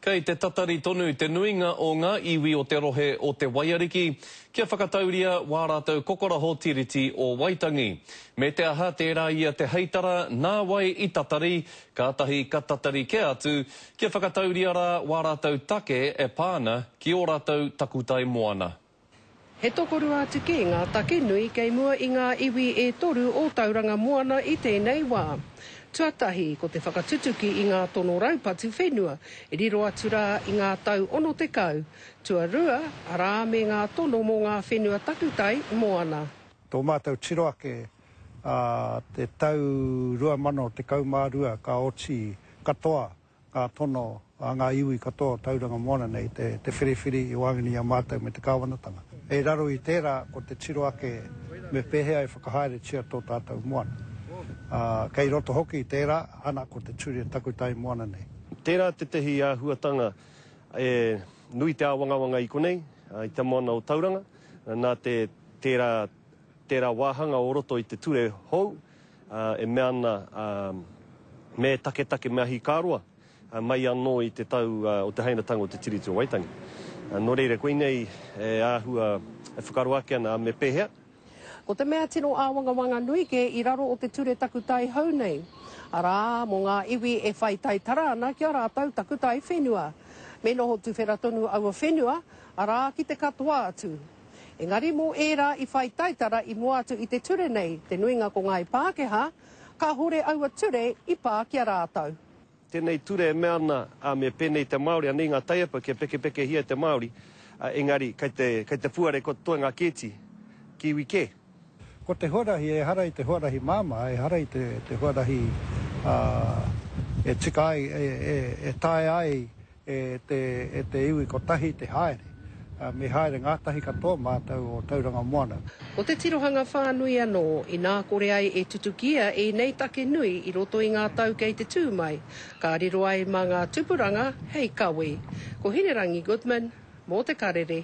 Kei te tatari tonu te nuinga o ngā iwi o te rohe o Te Waiariki kia whakatauria wā rātou kokoraho Tiriti o Waitangi. Me te aha tērā ia te heitara nā wai i tatari, kātahi ka tatari kē atu kia whakatauria rā wā rātou take e pā ana ki ō rātou takutai moana. He tokorua atu kē ngā take nui kei mua i ngā iwi e toru o Tauranga Moana i tēnei wā. Tuatahi, ko te whakatutuki i ngā tono raupatu whenua, riro atu rā i ngā tau 60. Tuarua, arā me ngā tono mō ngā whenua takutai moana. Tō mātou tiro ake a te tau 2012 ka oti katoa Ka tono a ngā iwi katoa o Tauranga Moana nei te whiriwhiri i waenganui i a mātou me te kāwanatanga. Hei raro i tērā ko te tiro ake me pēhea e whakahaeretia tō tātou moana. Ā, kei roto hoki i tērā, ana ko te ture takutai moana nei. Tērā tētehi āhuatanga e nui te āwangawanga i konei, i te moana o Tauranga, nā te tērā Tērā wāhanga o roto i te ture hou e mea ana me taketake, me ahikāroa mai anō i te tau o te hainatanga o te Tiriti o Waitangi. Nō reira, koinei e āhua, e whakaaro ake ana a me pēhea. Ko te mea tino āwangawanga nui kē i raro o te ture takutai hou nei, arā, mō ngā iwi e whai taitara ana ki a rātou takutai whenua. Me noho tuwhera tonu aua whenua, arā, ki te katoa atu. Engari mō ērā i whai taitara i mua atu i te ture nei, te nuinga ko ngāi Pākehā, kāhore aua ture i pā ki a rātou. Tēnei ture e mea ana, ā, me pēnei te Māori, anei ngā taiapa kia pekepekehia e te Māori, ā, engari kei te, kei te puare ko te toenga kēti, Kiwi kē. Ko te huarahi ehara i te huarahi māmā, ehara i te, te huarahi, ā, e tika ai, e, e, e taea ai. E te iwi kotahi te haere. Me haere ngātahi katoa mātou o Tauranga Moana. Ko te tirohanga whānui anō, inā kore ai e tutukia ēnei take nui i roto i ngā tau kei te tū mai, ka riro ai mā ngā tupuranga hei kawe. Ko Hinerangi Goodman, mō Te Karere.